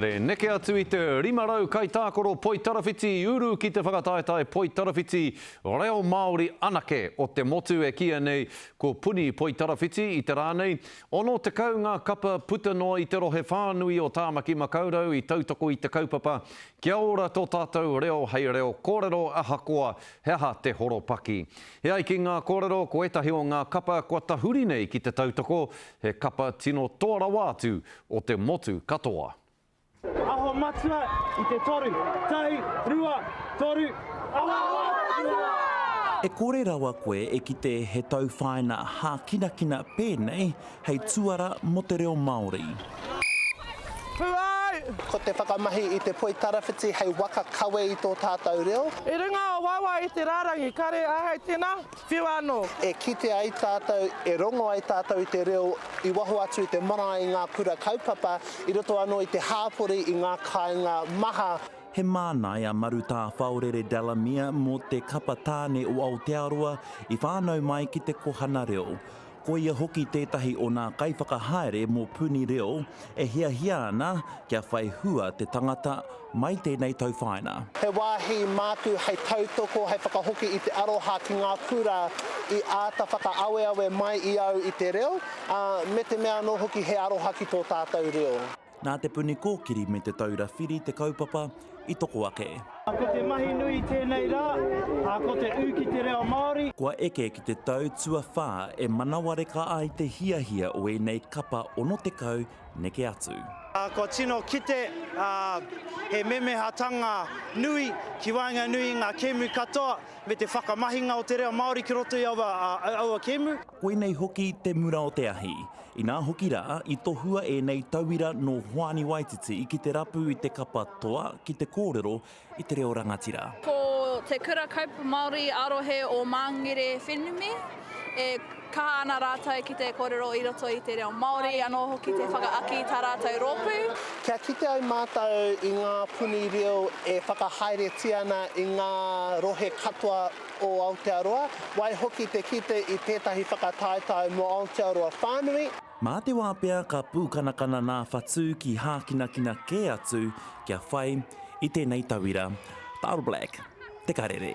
Re neke atu i te 500 kaitākaro poitarawhiti i uru ki te whakataetae poitarawhiti reo Māori anake o te motu e kīia nei ko Puni Poitarawhiti i te rā nei. 60 ngā kapa puta noa i te rohe whānui o Tāmaki Makaurau i tautoko i te kaupapa Kia Ora tō tātou reo hei reo kōrero ahakoa he aha te horopaki. E ai ki ngā kōrero ko ētahi o ngā kapa kua tahuri nei ki te tautoko He kapa tino toa rawa atu o te motu katoa. Aho matua i te toru. Tahi, rua, toru, aho matua! E kore rawa koe e kite he tauwhāina hākinakina pēnei hei tuara mō te reo Māori. Ko te whakamahi i te poi tarawhiti hei waka kawe i tō tātou reo. I runga o wawa i te rārangi kare āhei tēnā. Whiu anō! E kite ai tātou, e rongo ai tātou i te reo i waho atu i te marae i ngā kura kaupapa, i roto anō i te hāpori, i ngā kāinga maha. He māna e a Marutā Whaorere Delamere mō te Kapa Tāne o Aotearoa i whānau mai ki te kohana reo. Ko ia hoki tētahi o nā kaiwhakahaere mō Puni Reo e hiahia ana kia whai hua te tangata mai tēnei tauwhāina. He wāhi māku hei tautoko, hei whakahoki i te aroha ki ngā kura i āta whakaaweawe mai i au i te reo, ā, me te mea anō hoki he aroha ki tō tātou reo. Nā Te Puni Kōkiri me Te Taura Whiri te kaupapa i toko ake. Ko te mahi nui i tēnei rā, ko te ū ki te reo Māori. Kua eke ki te tau tuawhā e manawareka ai te hiahia o ēnei kapa 60 neke atu. Kua tino kite he memehatanga nui ki waenganui i ngā kēmu katoa me te whakamahinga o te reo Māori ki roto i aua kēmu. Koinei hoki te mura o te ahi. Inā hoki rā, i tohua ēnei tauira nō Hoani Waititi ki te rapu i te kapa toa ki te kōrero i te reo rangatira. Ko Te Kura Kaupapa Māori ā-Rohe o Māngere Whenumi, e kaha ana rātou ki te kōrero i roto i te reo Māori, anō hoki te whakaaki i tā rātou rōpū. Kia kite ai mātou i ngā puni reo e whakahaeretia ana i ngā rohe katoa o Aotearoa, waihoki te kite i tētahi whakataetae mō Aotearoa whānui. Mā te wā pea ka pūkanakana nā Whatu ki hākinakina kē atu kia whai i tēnei tauira, Bottleblack, Te Karere.